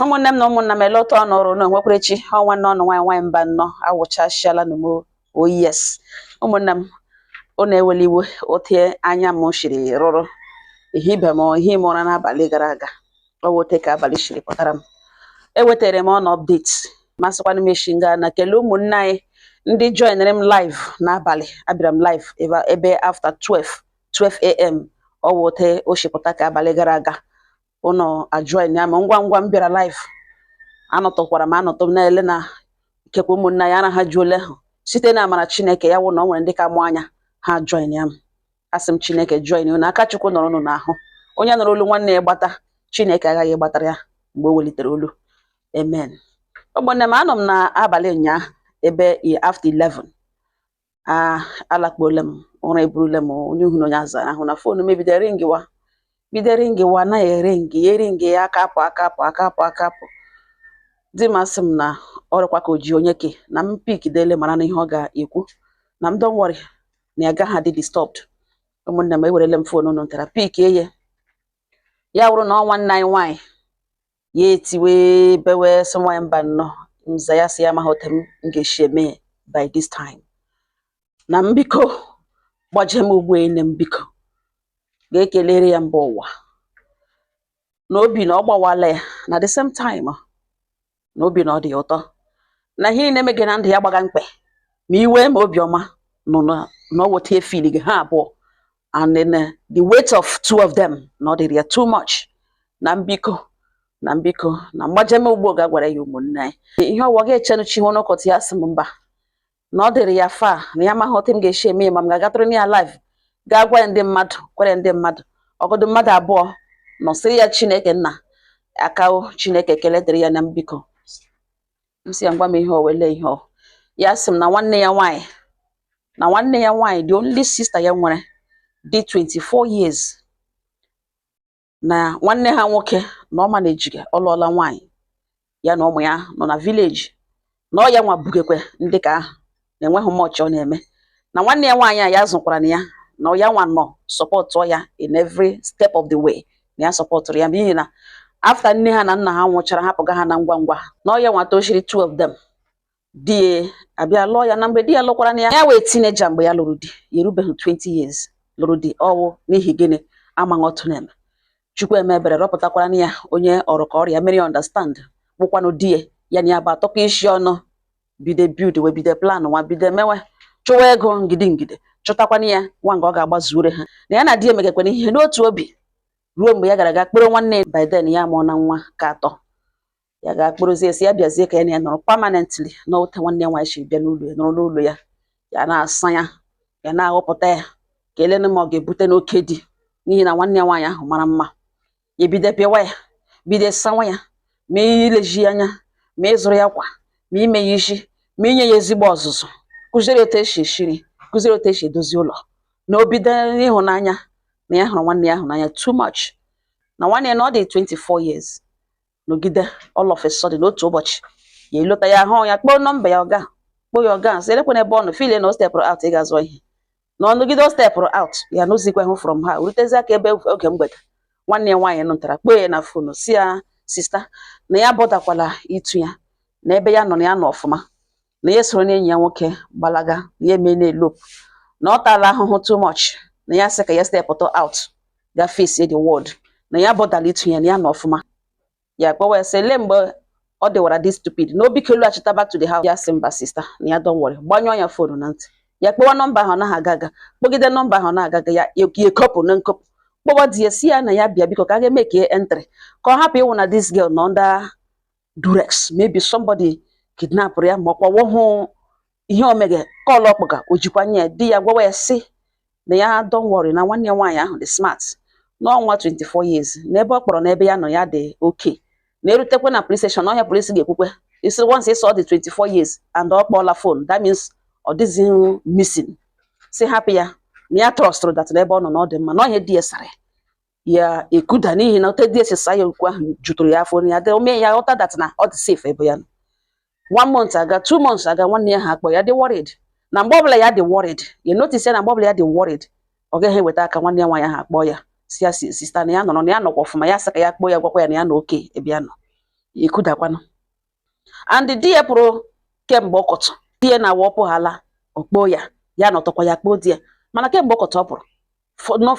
ụmụnne m na ụmụnna m ele otu ọnụ rị na onwekwara echi ọ nwanne ọnụ nwaanyị nwaanyị mbanọ awụchasịala na m o yes ụmụnne m ọnụ ewela iwe otu anya m siri rụrụ ihe ibe m ihe ime ụra n'abalị gara aga ọ wụ otu ka abalị siri pụtara m ewetara m ọnụ update m asịkwa na m eshi nga na kelee ụmụnne anyị ndị joinere m live n'abalị abịara m live ebe ebe after 12 12 a.m. ọ wụ otu o shi pụta ka abalị gara aga ụnụ ajoinia m ngwa ngwa m bịara live anọtụkwara m anọtụ m na-ele na ikekwe ụmụnne anyị arahajuole ahụ site na amara chineke ya wụ na ọ nwere ndị ka mụ anya ha ajoinia m asị m chineke join unu aka chukwu nọrọ unu n'ahụ onye nụrụ olu nwanne ya gbata chineke aghaghị gbatara ya mgbe o welitere olu amen ụmụnne m anọ m n'abalị ụnyaahụ ebe after 11 a alakpuola m ụra eburula m onye uhu na onye azara ahụ na foonu m ebido ringiwa bido ringiwa na-eringi ya eringi ya aka apụ aka apụ aka apụ aka apụ di m asị m na ọ rịkwa ka o ji onye ke na m pik dele mara na ihe ọ ga-ekwu na m don't worry na ya gaghị adị disturbed ụmụnne m ewerele m foonu unu ntara pikie ya wụrụ na ọ nwanne anyị nwaanyị ya etiwe bewe sị nwaanyị mbanọ m za ya sị ya amaghị otu m ga-esi eme ya by this time na m biko gbaje m ugbu a na m biko gaa kelere ya mba ụwa na obi na ọ gbawala ya na the same time na obi na ọ dị ya ụtọ na ihe niile mege na ndụ ya gbaga mkpị ma iwe ma obiọma nọ na na ọ weta efiliga ha abụọ and then uh, the weight of two of them na ọ dịrị ya too much na m biko na m biko na m gbaje m ugbu a gaa gwara ya ụmụnne anyị ihe ọ wụ a ga-echenu chi n'ụkọtụ ya sị m mba na ọ dịrị ya far na ya amaghị otu m ga-esi eme ma m ga-agatụrụ ya live gaa gwa ya ndị mmadụ kwere ndị mmadụ ọ wụgodu mmadụ abụọ nọ sịrị ya chineke nna akawo chineke ekele dịrị ya na m biko m sị ya gwa m ihe ọ wụ ele ihe ọ wụ ya sị m na nwanne ya nwaanyị na nwanne ya nwaanyị the only sister ya nwere dị 24 years na nwanne ha nwoke na ọ ma na ejiga ọ lụọla nwaanyị ya na ụmụ ya nọ na vileji na ọ ya nwa bugekwe ndị ka ahụ na enweghị much ọ na-eme na nwanne ya nwaanyị a ya zụkwara na ya na ya nwa nọ sọpọtụ ya in every step of the way na ya sọpọtụrụ ya n'ihi na after nne ha na nna ha nwụchara hapụga ha na ngwa ngwa na ọ ya nwa tochiri two of them di ya abịa lụọ ya na mgbe di ya lụkwara na ya ya wụ teenager mgbe ya lụrụ di ya erubeghị 20 years lụrụ di ọ wụ n'ihi gịnị amaghị otu a na-eme chukwu eme ebere rọpụtakwara na ya onye ọ rị ka ọ rị a mere ya understand bụkwanụ di ya ya na ya bịa atụkọ isi ọnụ bido buildwe bido planwa bido mewe chụwa ego ngide ngide chụtakwana ya nwa nga ọ ga-agbazuore ha na ya na di emekọkwana ihe n'otu obi ruo mgbe ya gara ga kpọrọ nwanne ya by then ya amụọna nwa ka atọ ya ga kpọrọzie si ya bịazie ka ya na ya nọrọ permanently na ote nwanne ya nwaanyị si bịa n'ụlọ ya nọrọ n'ụlọ ya ya na-asa ya ya na-aghụpụta ya ka e lene ma ọ ga-ebute n'oke di n'ihi na nwanne ya nwaanyị ahụ mara mma ya bido pịwa ya bido sawa ya ma ilezi ya anya ma ịzụrụ ya akwa ma ime ya isi ma inye ya ezigbo ọzụzụ kuziere ya otu esi esi iri kuziere ya otu esi edozi ụlọ na o bido ịhụnanya na ya hụrụ nwanne ya ahụ n'anya too much na nwanne ya na ọ dị 24 years nọgide all of a sudden otu ụbọchị ya alọta ya ahụ ya kpọọ nọmba ya ọ ga kpọọ ya ọ ga sị elekwana ebe ọ nọ feel na o stepụrụ out ịga zụọ ihe na ọ nọgide o stepụrụ out ya anụzikwahụ from her rutezie aka ebe oge mgbede nwanne ya nwaanyị nọtara kpọọ ya na phone si ya sister na ya botherkwala itu ya na ebe ya nọ na ya nọ ọfụma na ya soro n'enyi ya nwoke gbalaga na ya emeena elope na ọ taala ahụhụ too much na ya sị ka ya stepụta out ga face the world na ya botherla itu ya na ya nọ ọfụma ya kpọwa ya sị ele mgbe ọ dịwara this stupid na o biko lọchita back to the house ya sị mba sister na ya don't worry gbanyụọ ya phone na ntị ya kpọwa nọmba ahụ anaghị aga aga kpọgide nọmba ahụ na-aga aga ya ekopụ na nkopụ kpọwa di ya si ya na ya bịa biko ka a ga make entry ka ọ hapụ ịwụ na this girl nọ under duress maybe somebody kidnapụrụ ya ma ọ kpọwa hụ ihe o meghe call ọ kpọga o jikwa anya di ya gwawa ya sị na ya don't worry na nwanne ya nwaanyị ahụ dị smart na ọ nwa 24 years na ebe ọ kpọrọ na ebe ya nọ ya dị okay na erutekwe na police station ọ ihe police ga-ekwukwe sị once ị sị ọ dị 24 years and ọ kpọọla phone that means ọ dịghị missing si hapụ ya na ya trustụrụ that na ebe ọ nọ na ọ dị mma na ọ ihe di ya sara ya ekuda n'ihi na ote di ya si saa ya okwu ahụ jutụrụ ya afọ ya o mee ya ghọta that na ọ dị safe ebe ya nọ one month aga two months aga nwanne ya ahụ akpọ ya dị worried na mgbe ọbụla ya dị worried ya notice ya na mgbe ọbụla ya dị worried ọ gaghị ete aka nwanne ya nwaanyị ahụ akpọ ya si ya sister na ya nọrọ na ya nọkwa ọfụma ya sị ka ya kpọọ ya gwakwa ya na ya nọ okay ebe ya nọ ekudakwanụ and di ya pụrụ kemgbe ọkọtụ di ya na-awụ ọ pụhala ọ kpọọ ya ya anọtụkwa ya akpọọ di ya mana kemgbe ọkọtụ ọ pụrụ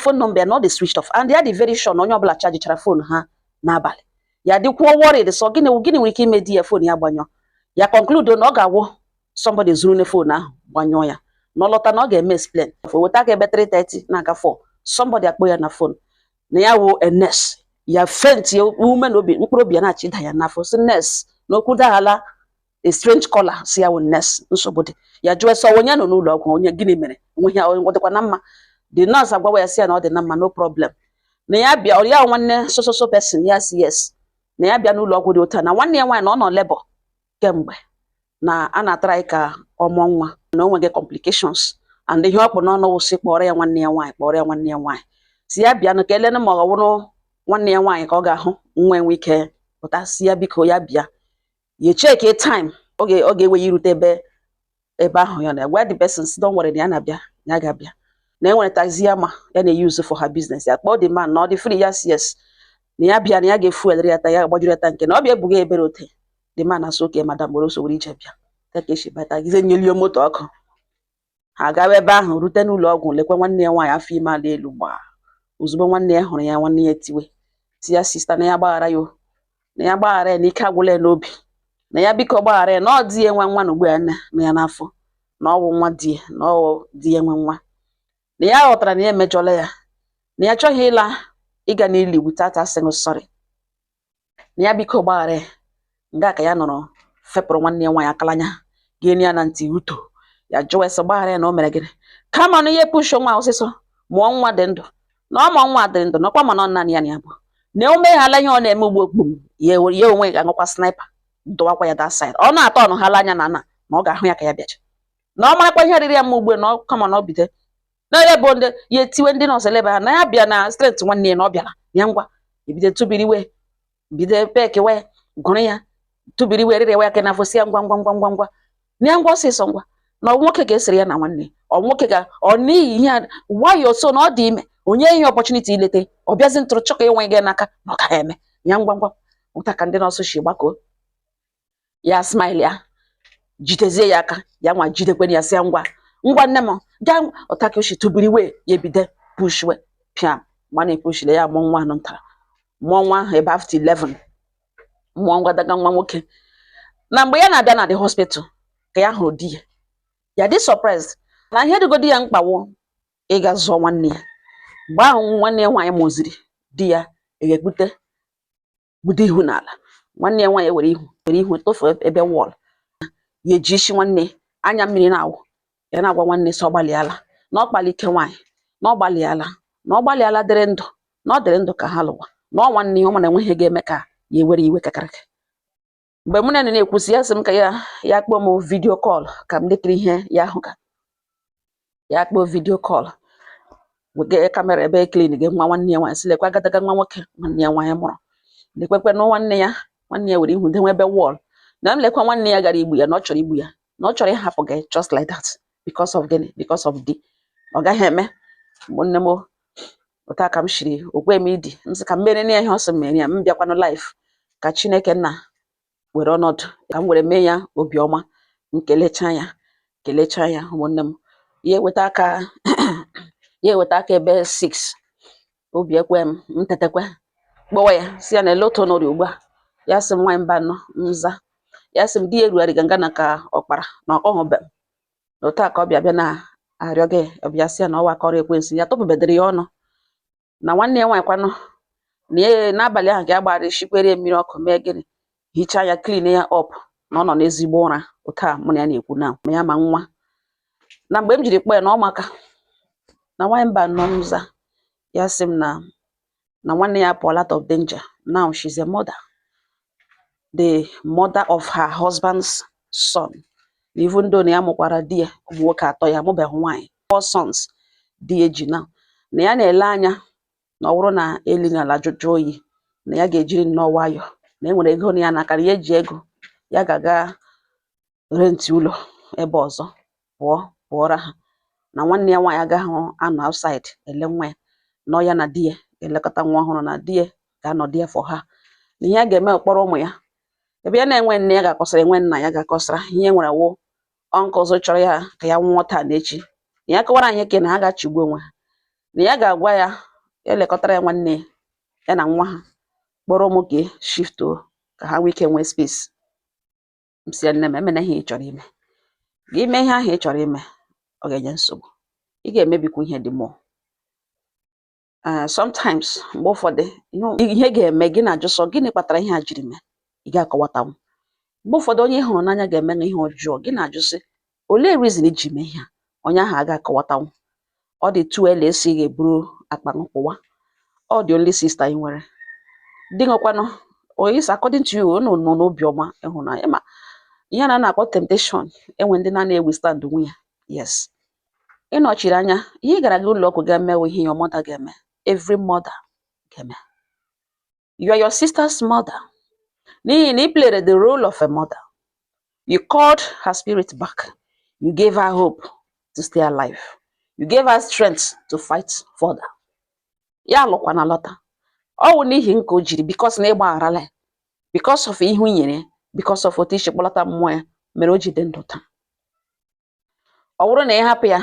phone number ya na ọ dị switched off and ya dị very sure na onye ọbụla chajichara phone ha n'abalị ya dịkwuo worried sị ọ gịnị gịnị nwere ike ime di ya phone ya gbanyụọ ya conclude na ọ ga-awụ somebody zurunụ phone ahụ gbanyụọ ya na ọ lọta na ọ ga-eme explain weta aka ebe 3:30 na-aga 4 somebody akpọ ya na phone na ya wụ a nurse ya fenti ume na obi mkpụrụ obi ya na-achịda ya n'afọ sị nurse na okwu adaghala a strange caller si ya wụ nurse nsogbu dị ya jụọ sị ọ onye nọ n'ụlọ ọgwụ onye gịnị mere onwe ya ọ dịkwa na mma the nurse agwawa ya si ya na ọ dị na mma no problem na ya bịa ọ ya nwanne so so so person ya si yes na ya bịa n'ụlọ ọgwụ dị otu a na nwanne ya nwaanyị na ọ nọ labour kemgbe na a na-atraị ka ọ mụọ nwa na o nweghị complications and ihe ọ kpụ n'ọnụ wụ sị kpọrọ ya nwanne ya nwaanyị kpọrọ ya nwanne ya nwaanyị sị ya bịanụ ka e lenụ ma ọ wụrụ nwanne ya nwaanyị ka ọ ga-ahụ nwa enwee ike pụta sị ya biko ya bịa ya cheki time ọ ga-ewe ya irute ebe ebe ahụ ya na gwa the person sị don't worry na ya na-abịa ya ga-abịa na e nwere taxi ya ma ya na-eyuzu for her business ya kpọọ the man na ọ dị free yes yes na ya bịa na ya ga-efuelere ya ta ya gbajuru ya tank na ọ bịa ebuga ebere ote the man asị okay madam gboro sowere ije bịa ka ka esi bata gize nyelie moto ọkụ ha gawa ebe ahụ rute n'ụlọ ọgwụ lekwa nwanne ya nwaanyị afọ ime ala elu gbaa ozugbo nwanne ya hụrụ ya nwanne ya tiwe sị ya sista na ya gbaghara ya na ya gbaghara ya na ike agwụla ya n'obi na ya biko gbaghara ya na ọ di ya nwe nwa na ugbu ya na ya n'afọ na ọ bụ nwa di ya na ọ di ya nwe nwa na ya ghọtara na ya emejọla ya na ya achọghị ịla ịga n'ili without asking sorry na ya biko gbaghara ya nga ka ya nọrọ fepụrụ nwanne ya nwaanyị akalanya ga-enye ya na ntị uto ya jụwa ya sị gbaghara ya na o mere gịnị kama na ya pushọ nwa ọsịsọ mụọ nwa dị ndụ na ọ mụọ nwa dị ndụ nakwa mana ọ naanị ya na ya bụ na o meghala ihe ọ na-eme ugbo okpum ya onwe ga-aṅụkwa sniper duwakwa ya that side ọ na-atọ ọnụ hala anya na na na ọ ga-ahụ ya ka ya bịacha na ọ marakwa ihe rịịrị ya mma ugbo na ọ ka mma na ọ bido na ya bụ ndị ya etiwe ndị nọọsụ elebe ha na ya bịa na strength nwanne ya na ọ bịara ya ngwa ebido tụbiriwe bido pekewe gụrụ ya tụbiriwe rịrịwa ya aka n'afọ sị ya ngwa ngwa ngwa ngwa ngwa na ya ngwa ọsịsọ ngwa na ọ nwoke ga-esere ya na nwanne ọ nwoke ga ọ n'ihi ihe a nwayọ so na ọ dị ime onye ihe opportunity ileta ọ bịazi ntụrụ chọga ịnwụ gị n'aka na ọ gaghị eme ya ngwa ngwa otu a ka ndị nọọsụ si gbakọọ ya smile ya jidezie ya aka ya nwa jidekwana ya sị ya ngwa ngwa nne m gaa otu a ka o shi tụbiriwe ya ebido pushwe pịa ma na-epushile ya mụọ nwa anụ ntara mụọ nwa ahụ ebe after 11 mụọ agadaga nwa nwoke na mgbe ya na-abịa na the hospital ka ya hụrụ di ya ya dị surprised na ihe dịgodi ya mkpa wụ ịga zọọ nwanne ya mgbe ahụ nwanne ya nwaanyị mụziri di ya ga-ekpute kpudo ihu n'ala nwanne ya nwaanyị were ihu were ihu tụfuo ebe wọl ya eji isi nwanne anya mmiri na-awụ ya na-agwa nwanne sị ọ gbalịala na ọ kpaala ike nwaanyị na ọ gbalịala na ọ gbalịala dịrị ndụ na ọ dịrị ndụ ka ha lụwa na ọ nwanne ya ọ mana enweghị ihe ga-eme ka ya ewere iwe kakarịka mgbe mụ na ya na-ekwusi ya sị m ka ya ya kpọọ m vidio kọl ka m lekiri ihe ya hụga ya kpọọ vidio kọl wegee kamera ebe e klinịga nwa nwanne ya nwaanyị sị lekwa agadaga nwa nwoke nwanne ya nwaanyị mụrụ lekwekwe na nwanne ya nwanne ya were ihu dewe ebe wọl na m lekwa nwanne ya gara igbu ya na ọ chọrọ igbu ya na ọ chọrọ ịhapụ gị just like that because of gịnị because of di ọ gaghị eme ụmụnne m otu a ka m shiri okwe m idi m sị ka m mere ya ihe ọ sị m mere ya m bịakwanụ live ka chineke nna were ọnọdụ ka m were mee ya obiọma m kelechaa ya kelechaa ya ụmụnne m ya eweta aka ya eweta aka ebe 6 obi ekwe m m tetekwe kpọwa ya sị ya na ele otu ọ nọrọ ugbu a ya sị m nwaanyị mbanọ m za ya sị m di ya erugharịga nga na ka ọkpara na ọkpọghọbe m na otu a ka ọ bịa bịa na-arịọ gị ọ bịa sị ya na ọ wụ aka ọrụ ekwensu ya tụpụbedịrị ya ọnụ na nwanne ya nwaanyị kwanụ na ya n'abalị ahụ ka ya gbara shikwere mmiri ọkụ mee gịnị hichaa ya clean ya up na ọ nọ n'ezigbo ụra otu a mụ na ya na-ekwu na ma ya ma nwa na mgbe m jiri kpọọ ya na ọ maka na nwaanyị mbanọ m za ya sị m na na nwanne ya pụọ out of danger now she's a mother the mother of her husband's son na even though na ya mụkwara di ya ụmụ nwoke atọ ya mụbeghị nwaanyị four sons di ya ji now na ya na-ele anya na ọ bụrụ na elu na ala jụjụ oyi na ya ga-ejiri nnọọ nwayọọ na e nwere ego nọ ya n'aka na ya eji ego ya ga-aga rent ụlọ ebe ọzọ pụọ pụọra ha na nwanne ya nwaanyị agaghị anọ outside ele nwa ya na ya na di ya elekọta nwa ọhụrụ na di ya ga-anọ there for ha na ihe a ga-eme kpọrọ ụmụ ya ebe ya na-enwe nne ya ga-akọsara enwe nna ya ga-akọsara ihe e nwere wụ uncles chọrọ ya ka ya nwụọ taa na echi na ya kọwara anyị ke na ha ga-achịgbu onwe ha na ya ga-agwa ya elekọtara ya nwanne ya ya na nwa ha kpọrọ ụmụaka shift ka ha nwee ike nwee space m sị ya nne m emena ihe ị chọrọ ime gị ime ihe ahụ ị chọrọ ime ọ ga-enye nsogbu ị ga-emebikwu ihe the more ee sometimes mgbe ụfọdụ ihe- ihe ga-eme gị na-ajụ sị gịnị kpatara ihe a jiri mee ị ga-akọwatanwu mgbe ụfọdụ onye ị hụrụ n'anya ga-eme na ihe ọjọọ gị na-ajụ sị olee reason i ji mee ihe a onye ahụ aga akọwatanwu ọ dị too early esi ga-eburu akpa m pụwa ọ the only sister ị nwere di nwekwanụ is according to you unu nọ n'obiọma ịhụnanya ma ihe a na-akpọ temptation enwe ndị na na-ewithstandnwu ya yes ị nọchiri anya ihe ị gara gị ụlọ ọgwụ ga-eme ihe a mother ga-eme every mother ga-eme you are your sister's mother n'ihi na ị played the role of a mother you called her spirit back you gave her hope to stay alive you gave her strength to fight further ya alụkwana lọta ọ wụ n'ihi nke o jiri because na ị gbagharala ya because of ihu i nyere ya because of otu i si kpọlata mmụọ ya mere o ji dị ndụ taa ọ bụrụ na ị hapụ ya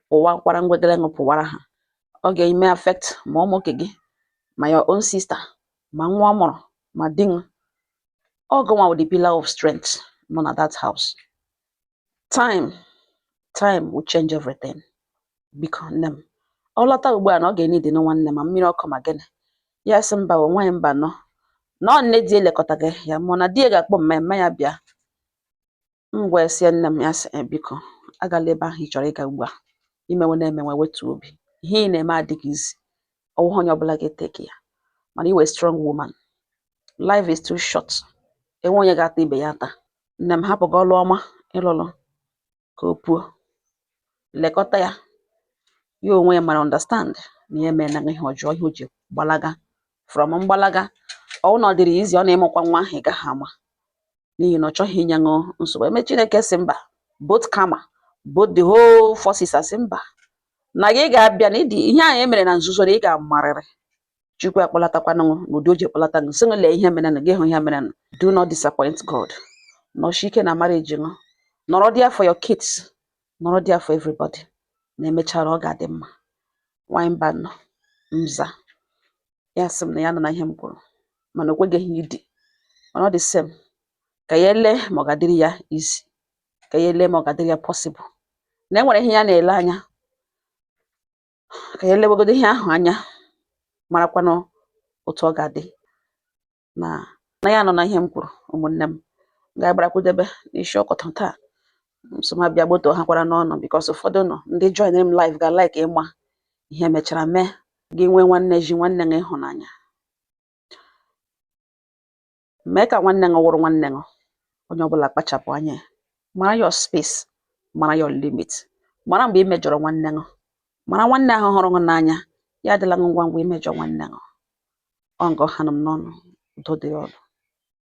pụwa kwara ngwegere ṅụ pụwara ha ọ ga-eme affect ma ụmụ nke gị ma your own sister ma nwa ọ mụrụ ma di nwa ọ gụnwa wụ the pillar of strength nọ na that house time time will change everything biko nne m ọ lọta ugbu a na ọ ga-enidi na nwanne ma mmiri ọkụ ma gịnị ya sị mba o nwaanyị Mbano na ọ nne di elekọta gị ya mụọ na di ya ga-akpọ mama ya bịa M wee sị ya nne m ya sị "Eh, biko agala ebe ahụ ị chọrọ ịga ugbu a ị mewe na-emewe wetu obi ihe ị na-eme adịghị easy ọ wụghị onye ọbụla ga-eteki ya mana ị wụ a strong woman life is too short enwe onye ga-ata ibe ya ata nne m hapụ gị ọlụ ọma ịlụlụ ka o puo lekọta ya ya onwe ya mara understand na ya emeela ihe ọjọọ ihe o ji gbalaga from mgbalaga ọ wụ na ọ dịrị ya easy ọ na-ịmụkwa nwa ahụ ị gaghị ama n'ihi na ọ chọghị inye ṅụ nsogbu eme chineke sị mba both karma both the whole forces asị mba na gị ga-abịa na ụdị ihe anyị mere na nzuzo na ị ga-amarịrị chukwu akpọlatakwanụ gị n'ụdị o ji kpọlata gị sị lee ihe merenụ gị ahụ ihe merenụ do not disappoint god nọsie ike na marriage ṅụ nọrọ there for your kids nọrọ there for everybody na emechara ọ ga-adị mma nwanyị Mbano m za ya sị m na ya anụna ihe m kwuru mana o kweghị idi mana all the same ka ya ele ma ọ ga-adịrị ya easy ka ya ele ma ọ ga-adịrị ya possible na e nwere ihe ya na-ele anya ka ya elewegodo ihe ahụ anya marakwanụ otu ọ ga-adị na ya anụna ihe m kwuru ụmụnne m ga-agbarakwudebe n'isi ọkọtọ taa nsoma bịa gboto ha kwaranụ unu because ụfọdụ unu ndị join m live ga-like ịma ihe mechara mee gị nwee nwanne ji nwanne gị ịhụnanya mee ka nwanne gị wụrụ nwanne gị onye ọbụla kpachapụ anya mara your space mara your limit mara mgbe ị mejọrọ nwanne gị mara nwanne ahụ hụrụ gị n'anya ya adịla gị ngwa ngwa imejọ nwanne gị ọ nga ọ hanụ m n'ọnụ udo dịrị unu